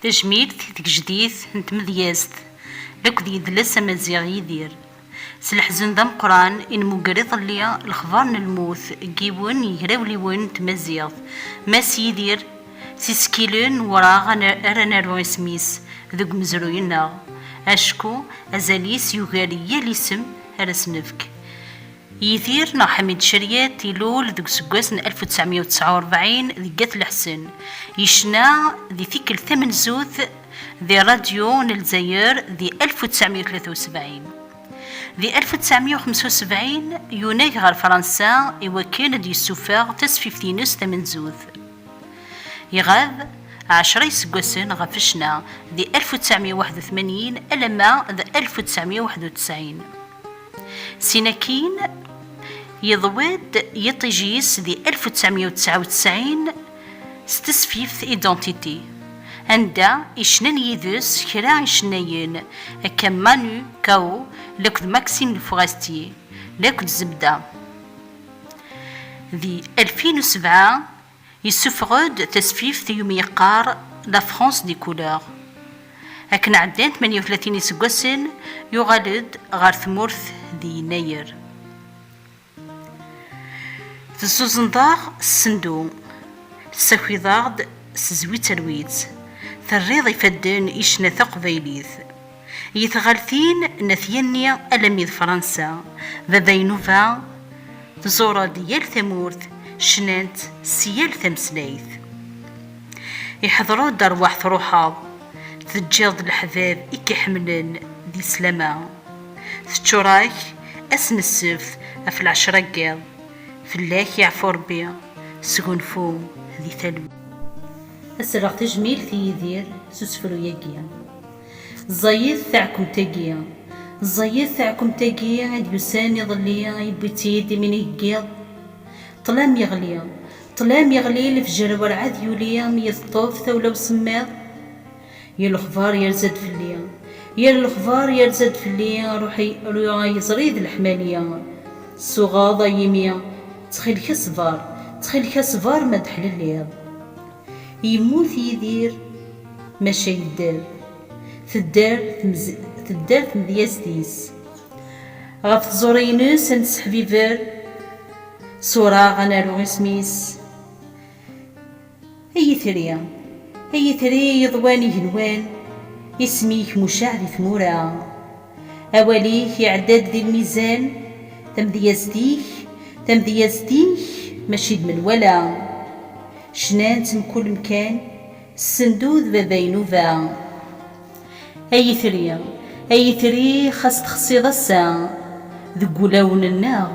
Tajmilt i tgejdit n tmedyazt d akked yedles amaziɣ Yidir. S leḥzen d ameqqran i nmugger iḍelli lexbar n lmut n yiwen n yegrawliwen n tmaziɣt, Mass Yidir Siskilen weraɣ ara naru isem-is deg umezruy-nneɣ acku azal-is yugar yal isem ara s-nefk. Yidir neɣ Ḥamid Ceriet ilul deg useggas n alef u ttɛemya u tesɛa u rebɛin deg At Leḥsen. Yecna di tikkelt tamenzut di Radyu n Lezzayer di alef u ttɛemya u tlata u sebɛin. Di alef u ttɛemya u xemsa u sebɛin, yunag ɣer Fransa i wakken ad d-yessufeɣ tasfift-ines tamenzut. Iɣab ɛecra iseggasen ɣef ccna, di alef u ttɛemya u waḥed u tmanyin alamma d alef u ttɛemya u waḥed u tesɛin. Sin akkin, yeḍwi-d yiṭij-is di alef u ttɛemya u tesɛa u tesɛin s tesfift Identité, anda i cnan yid-s kra icennayen akka Manu Chao laked Maxime Le Forestier laked Zebda. Di alfin u sebɛa, Yessufeɣ-d tasfift i umi yeqqar La France des couleurs. Akken ɛeddan tmanya u tlatin iseggasen, yuɣal-d ɣer tmurt di yennayer. Tezzuzeneḍ-aɣ s sendu, tessakiḍ-aɣ-d s zwitt ar witt, terriḍ ifadden i ccna taqbaylit. I tɣaltin n At Yanni alami d Fransa, Baba Yenuba, tẓurr-d yal tamurt, cnant s yal tameslayt. Iḥḍer-d rwaḥ truḥeḍ, teǧǧiḍ-d leḥbab i k-iḥemmlen di slama. Teččur-ak ass n ssebt ɣef lɛecra n yiḍ, fell-ak yeɛfu Rebbi, sgunfu di talwit. Ad s-rreɣ tajmilt i Yidir s usefru-yagi. Ẓẓayet taɛkemt-agi. Ẓẓayet taɛkemt-agi i d-yusan iḍelli, yewwi-tt-id imi n iheggiḍ. Ṭṭlam yeɣli. Ṭṭlam yeɣli, lefjer werɛad yuli mi yi-teṭṭef tawla usemmiḍ. Yir lexbar yerza-d fell-i. Yir lexbar yerza-d fell-i, ruḥ ay iẓri d leḥmali. Tsuɣeḍ ay imi. Ttxil-k a ṣṣber. Ttxil-k a ṣṣber ma d-teḥlelliḍ. Yemmut Yidir. Maca yedder, tedder tedder tmedyazt-is. Ɣef tẓuri-ines ad nesseḥbiber suraɣ ad naru isem-is. Ay itri, ay itri iḍwan igenwan, isem-ik mucaɛ di tmura. Awal-ik iɛedda-d di lmizan, tamedyazt-ik, tamedyazt-ik mačči d menwala. Cnan-tt mkul mkan, Sendud baba inuba Ay itri, ay itri Xas texsiḍ ass-a Deg wulawen-nneɣ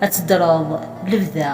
Ad teddreḍ lebda.